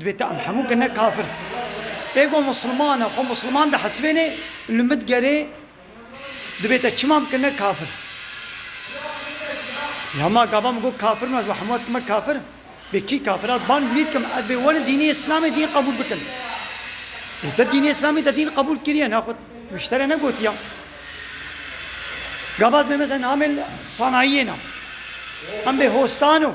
Divê tu em hemû ke ne kafir ê ku Musliman e, xwe Musliman dihesibênê û li min gerê divê te çima bikin ne kafir. Ya ma gava min got kafir me ji bo hemû e dikime kafir. Bê kî kafir e? Bang wî dikim ez bê werin dînê Îslamê dîn qebûl bikin. Ê te dînê Îslamê te dîn qebûl kiriye ne xwe wiştere negotiya. Gava ez bê mesela namê sanayiyê nam. Em bê hostan o.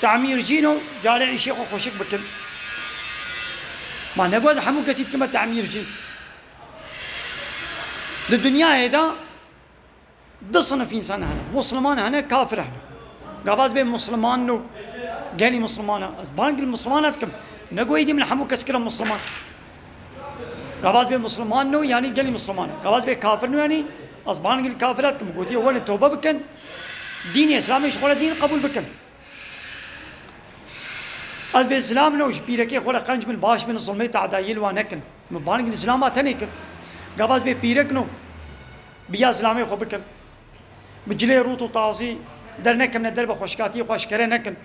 Temîr cîno carê îşê xwe xweşik bikin. Ma negot ez hemû kesî dikime temîr cîn. Di dinyayê de du sinif însan hene. Musliman hene, kafir hene. Gava ez bê musliman no gelî musliman e. Ez bang li muslimana dikim. Negot êdî min hemû kes kira musliman. Gavaz bê musliman no yanî gelî musliman e. Gavaz bê kafir no yanî ez bang li kafira dikim. Gotiye welê tobe bikin, dînê îslamê ji xwe re dîn qebûl bikin. Ez bê zilam no ji pîrekê xwe re qenc bin, baş bin, zilmê tedayiyê li wan nekin. Min bang li zilama tenê kir. Gavaz bê pîrek no bi ya zilamê xwe bikin. Bi cilê rût û tazî dernekimne derbe xweşikatiyê xwe eşkere nekin.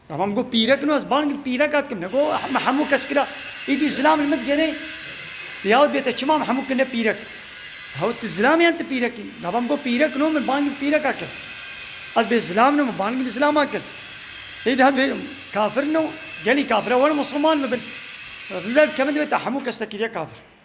Dema min got pîrek no ez bang pîreka dikim ne got me hemû kes kira. Îdî zilam li min digenê ya wit bête çima em hemû kirine pîrek. Hewt tu zilam î yan tu pîrek î. Dema min got pîrek no min bang pîreka kir. Ez bê zilam no min bang li zilama kir. Îdî hemû bê kafir no gelî kafir e were musliman bibin. Li ber dikevin divê te hemû kes te kiriye kafir.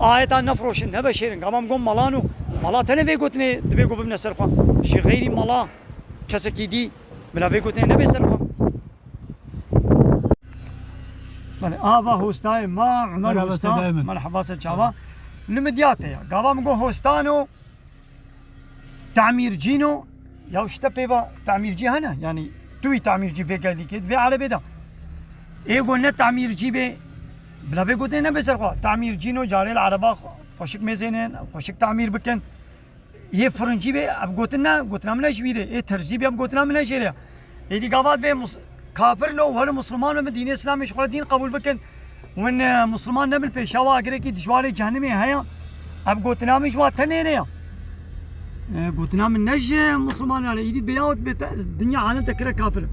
Ayetan nefiroşin, neveşêrin, gavam gom malan û mala tenê vê gotinê dibê ku bibne ser xwe. Ji xeyrî mala kesekî dî bila vê gotinê nebe ser xwe. Belê ava hostayê ma Umer Hosta, merheba ser çavan, li Midyatê ye. Gavam go hostan û Temîrcî no ya ji te pêva temîrcî hene yanî tu wî temîrcî bê gelî kê divê erebê de ê got ne temîrcî bê bila vê gotê nebe ser xwe temîrcî no carê li ereba xweşik mêzêne xweşik temîr bikin yê firincî bê ev gotin ne gotina min e ji bîrê ê terzî bê ev gotina min e jê re ye. Êdî gavat bê kafir lo were musliman bibin dînê îslamê ji xwe dîn qebûl bikin. Win musliman nebin pêşewa girekî dijwarê cehenimê heye. Ev gotina min ji wa tenêre ye. Gotina min ne ji muslimanan e. Êdî bêyawit bê dinya alem te kire kafir.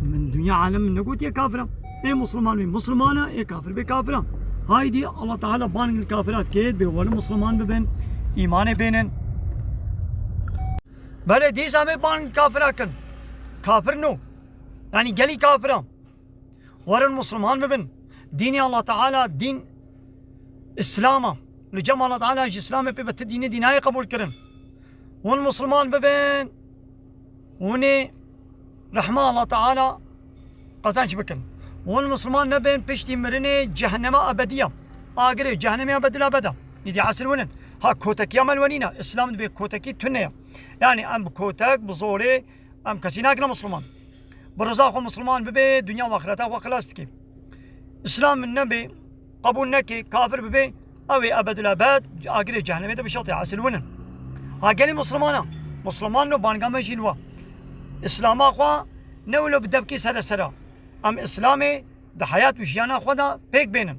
Min dinya alem min negotiye kafir e. Ê musliman bê musliman e, ê kafir bê kafir e. Haydi Allah Teala ban kafirat kêt bê were musliman bibin, îmanê bênin. Belê dîsa me bang kafira kin. Kafir no. Yanî gelî kafir a. Werin musliman bibin. Dînê Allah Teala dîn Îslam a. Li cem Allah Teala ji Îslamê pê be ti dînê dî nayê qebûl kirin. Hûn musliman bibin. Hûnê Rehma Allah Teala qezenç bikin. Hûn Misliman nebên piştî mirinê cehenema ebedîya, agirê cehenemê ya bedila beda. Îdî esil hûn in. Ha kotekiya me li we nîn e. Îslam dibê kotekî tune ya. Yanî em bi kotek, bi zorê em kesî nakine Misliman. Bi riza xwe Misliman bibê, dinya û axireta xwe xilas dikê. Îslam min nebê. Qebûl nekê kafir bibe ew ê ebedül ebed ji agirê cehnemê de bişotê esil win in. Ha gelê muslimanan, musliman no banga me jî li wa. Îslama xwe ne wilo bi debkê sere sera. Em îslamê di heyat û jiyana xwe de pêk bênin.